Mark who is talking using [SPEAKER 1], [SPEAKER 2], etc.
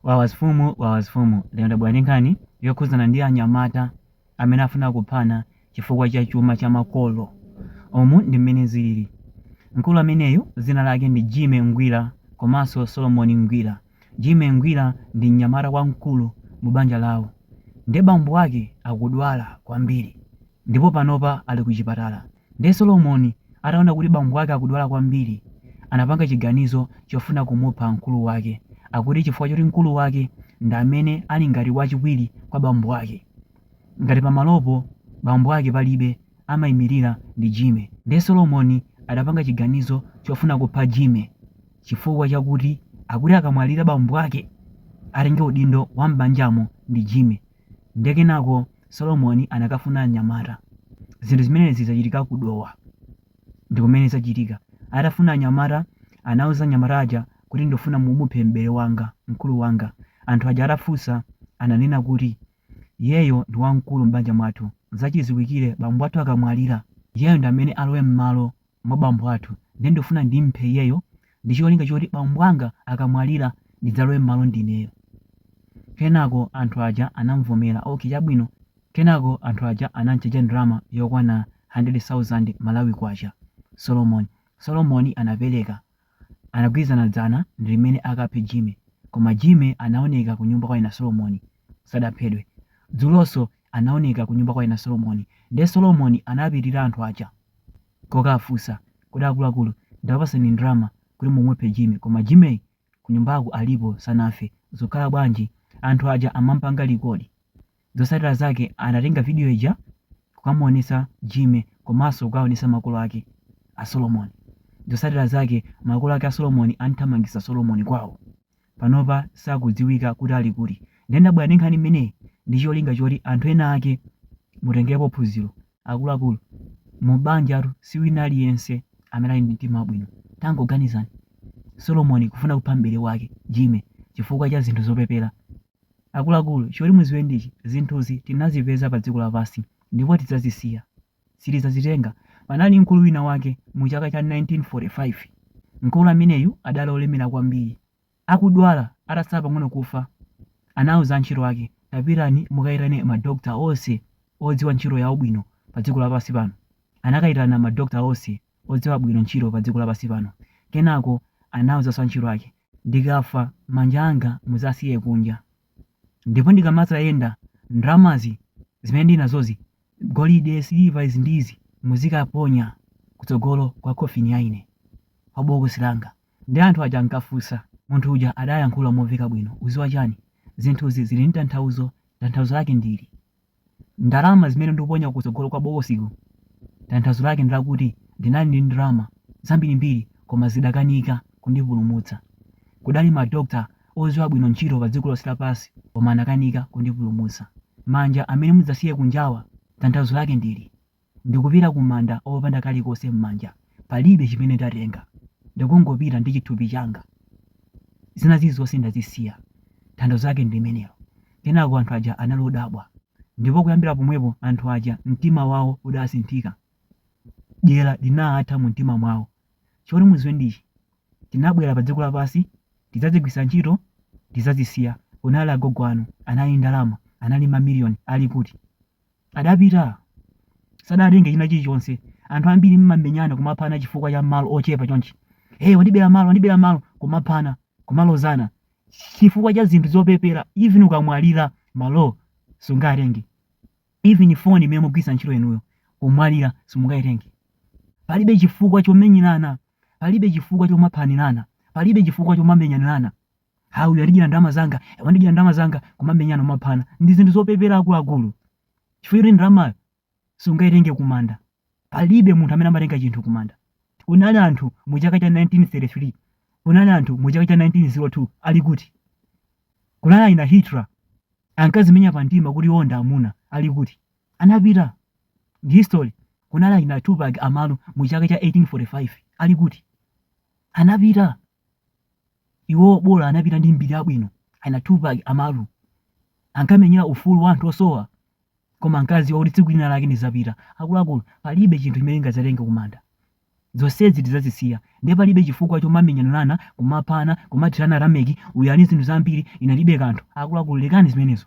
[SPEAKER 1] Wawa zfumu wawa zfumu lero ndabwera ndi nkhani yokhuzana ndi anyamata amene afuna kuphana chifukwa cha chuma cha makolo umu ndi mmene zilili mkulu ameneyu zina lake ndi jimmy ngwira komanso solomoni ngwira jimmy ngwira ndi mnyamata wamkulu mu banja lawo nde bambo ake akudwala kwambiri ndipo panopa ali ku chipatala Ndiye Solomoni ataona kuti bambo ake akudwala kwambiri, anapanga chiganizo chofuna kumupha mkulu wake, akuti chifukwa choti mkulu wake ndi amene ali ngati wachiwiri kwa bambo ake. Ngati pamalopo bambo ake palibe, amaimirira ndi Jimmy. Ndiye Solomoni adapanga chiganizo chofuna kupha Jimmy chifukwa chakuti akuti akamwalira bambo ake, atenge udindo wa m'banjamo ndi Jimmy. Ndiye kenako Solomoni anakafuna anyamata. Zinthu zimenezi zachitika ku Dowa. Ndi kumene zachitika. Atafuna anyamata, anauza anyamata aja kuti ndikufuna mumuphe m'bere wanga, mkulu wanga. Anthu aja atafunsa, ananena kuti, Iyeyo ndi wamkulu m'banja mwathu. N'zachidziwikire, bambo athu akamwalira, iyeyo ndi amene alowe m'malo mwa bambo athu ndiye ndikufuna ndimuphe iyeyo ndi cholinga choti bambo anga akamwalira ndidzalowe m'malo ndineyo. Kenako anthu aja anamuvomera. Okay chabwino. Kenako anthu aja anamchaja ndalama yokwana 100,000 Malawi Kwacha. Solomon Solomon anapereka. Anagwirizana dzana ndi limene akaphe jimmy koma jimmy anaoneka kunyumba kwa ana solomoni sadaphedwe dzulonso anaoneka kunyumba kwa ana solomoni nde solomoni anapitira anthu aja kokafunsa kodi akuluakulu ndakupasani ndalama kuti mumuphe jimmy koma jimmy kunyumbako alipo sanafe zikukhala bwanji anthu aja amampanga likodi Zotsatira zake anatenga video ija kukamuonetsa Jimmy komanso kukaonetsa makolo ake a Solomon. Zotsatira zake makolo ake a Solomon anthamangitsa Solomon kwawo. Panopa sakudziwika kuti ali kuti. Ndiye ndabwera ndi nkhani imeneyi ndi cholinga choti anthu ena ake mutengepo phunziro. Akuluakulu, mu banjatu si wina aliyense amene ali ndi mtima wabwino. Tangoganizani, Solomon kufuna kupha m'bere wake, Jimmy, chifukwa cha zinthu zopepera. Akuluakulu, choti muziwe ndichi, zinthuzi tinazipeza padziko lapansi, ndipo tidzazisiya. Sitidzazitenga. Panali mkulu wina wake mu chaka cha 1945. Mkulu ameneyu adali olemera kwambiri. Akudwala, atatsala pang'ono kufa, anauza antchito ake, Tapitani mukaitane ma doctor onse odziwa ntchito yawo bwino padziko lapansi pano. Anakaitana ma doctor onse odziwa bwino ntchito padziko lapansi pano. Kenako anauzanso antchito ake. ndikafa manja anga muzasiye kunja ndipo ndikamazayenda ndalamazi zimene ndili nazozi golide siliva izi ndizi muzikaponya kutsogolo kwa khofini ya ine kwa bokosi langa ndi anthu aja ankafunsa munthu uja adayankhula momveka bwino uziwa chani zinthuzi zili ndi tanthauzo tanthauzo lake ndili Ndalama zimene ndikuponya kutsogolo kwa bokosiko tanthauzo lake ndi lakuti ndinali ndi ndalama zambirimbiri koma zidakanika kundipulumutsa. Kudali ma doctor odziwa bwino ntchito padziko lonse lapansi koma anakanika kundipulumutsa. Manja amene mudzasiye kunjawa tanthauzo lake ndili. Ndikupita kumanda opanda kalikonse m'manja. Palibe chimene ndatenga. Ndikungopita ndi chithupi changa. Zina zilizonse ndazisiya. Tanthauzo lake ndi limenelo. Kenako anthu aja anali odabwa. Ndipo kuyambira pomwepo anthu aja mtima wawo udasinthika. Dyera linatha mu mtima mwawo. Choti mudziwe ndi ichi, tinabwera pa dziko lapansi tidzazigwiritsa ntchito, tidzazisiya. Kunali agogo anu, anali ndi ndalama, anali ndi mamiliyoni, ali kuti? Adapita. Sadatenge china chilichonse. Anthu ambiri mmamenyana kumaphana chifukwa cha malo ochepa chonchi. Hey, wandibera malo, wandibera malo, kumaphana, kumalozana. Chifukwa cha zinthu zopepera, even ukamwalira, malo sungatenge. Even phone imene mugwiritsa ntchito yanuyo, kumwalira simungaitenge. Palibe chifukwa chomenyerana, palibe chifukwa chomaphanirana, palibe chifukwa chomamenyanirana. ah uyu wandidyera ndalama zanga eh, wandidyera ndalama zanga kumamenyana kumaphana ndi zinthu zopepera akuluakulu chifukwa choti ndalamayo sungaitenge kumanda palibe munthu amene amatenga chinthu kumanda kunali anthu mu chaka cha 1933 kunali anthu mu chaka cha 1902 ali kuti kunali aina hitler ankazimenya pa mtima kuti iwo ndi amuna ali kuti anapita ndi history kunali aina tupac amaru mu chaka cha 1845 ali kuti anapita Iwo bola anapita ndi mbiri yabwino. Aina Tupac Amaru ankamenyera ufulu wa anthu osowa, koma ankadziwa kuti tsiku lina lake ndidzapita. Akuluakulu, palibe chinthu chimene tingadzatenge kumanda. Zonsezi tidzazisiya. Ndiye palibe chifukwa chomamenyanirana, kumaphana, kumathirana tameki, uyu ali ndi zinthu zambiri, ine ndilibe kanthu. Akuluakulu, lekani zimenezo.